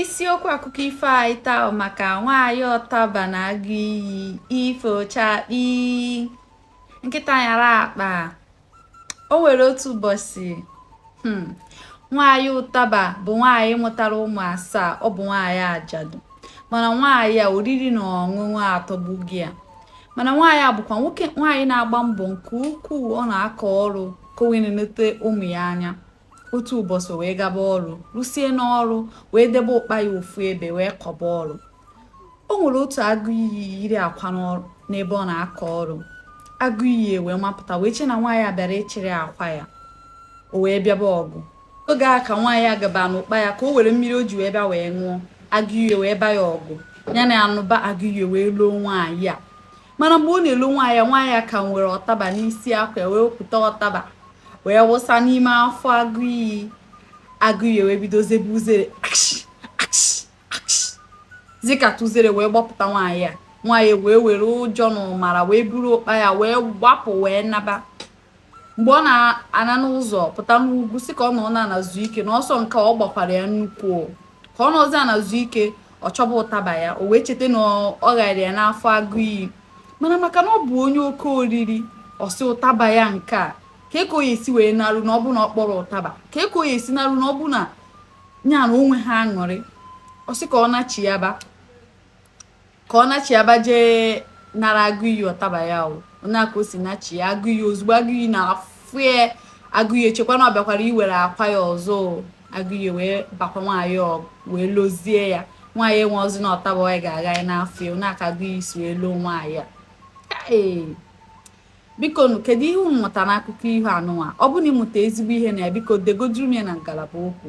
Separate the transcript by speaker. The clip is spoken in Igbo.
Speaker 1: Isiokwu akụkọ ifo anyị taa maka nwaanyị ọtaba na agụ iyi ifo chakpi nkịta nyara akpa o nwere otu ụbọchị hmm, nwaanyị ụtaba bụ nwaanyị mụtara ụmụ asaa ọ bụ nwaanyị ajadu mana nwaanyị a oriri na ọṅụṅụ atọgbugo ya mana nwaanyị a bụkwa nwaanyị na-agba mbọ nke ukwuu ọ na-akọ ọrụ ka o wee na-enete ụmụ ya anya otu ụbọchị wee gaba ọrụ rusie n'ọrụ wee debe ụkpa ya ofu ebe wee kọba ọrụ o nwere otu agụ iyi yiri akwa n'ebe ọ na-akọ ọrụ agụ iyi wee mapụta wee che na nwaanyị a bịara ịchịrị akwa ya o wee bịaba ọgụ oge a ka nwaanyị a gaba n'ụkpa ya ka o were mmiri o ji wee bịa wee ṅụọ agụ iyi wee ba ya ọgụ ya na anụba agụ iyi wee loo nwaanyị a mana mgbe ọ na-elo nwaanyị a nwaanyị a ka nwere ọtaba n'isi akwa wee wepụta ọtaba wee wụsa n'ime afọ agụ iyi agụ iyi wee bido zebe uzere zikata uzere wee gbapụta nwaanyị a nwaanyị wee were ụjọ na ụmara wee buru ụkpa ya wee gbapụ wee naba mgbe ọ na-ana n'ụzọ pụta n'ugwu sị ka ọ nọ n'ana zuo ike na ọsọ nke ọ gbakwara ya nnukwu ka ọ nọzi ana zuo ike ọ chọba ụtaba ya o wee cheta na ọ ghara ya n'afọ agụ iyi mana maka na ọ bụ onye oke oriri ọ sị ụtaba ya nke a kee ka ọ ya-esi wee naru na ọ bụ na ọ kpọrọ ụtaba kee ka ọ ya-esi naru na ọ bụ na ya na onwe ha aṅụrị ọ sị ka ọ nachiyaba ka ọ nachiyaba jee nara agụ iyi ọtaba ya ọ nya ka o si nachiya agụ iyi ozugbo agụ iyi na-afụ ya agụ iyi echekwa na ọ bịakwara iwere akwa ya ọzọ agụ iyi wee bakwa nwaanyị ọgụ wee lozie ya nwaanyị enwerọzi ọtaba ọ ga-agha ya n'afọ ya ọ nya ka agụ iyi si wee loo nwaanyị a ee biko nụ kedu ihe unu mụta n'akụkọ ihe anụnwa ọ bụ na ị mụta ezigbo ihe na ya biko degoduru m ya na ngalaba okwu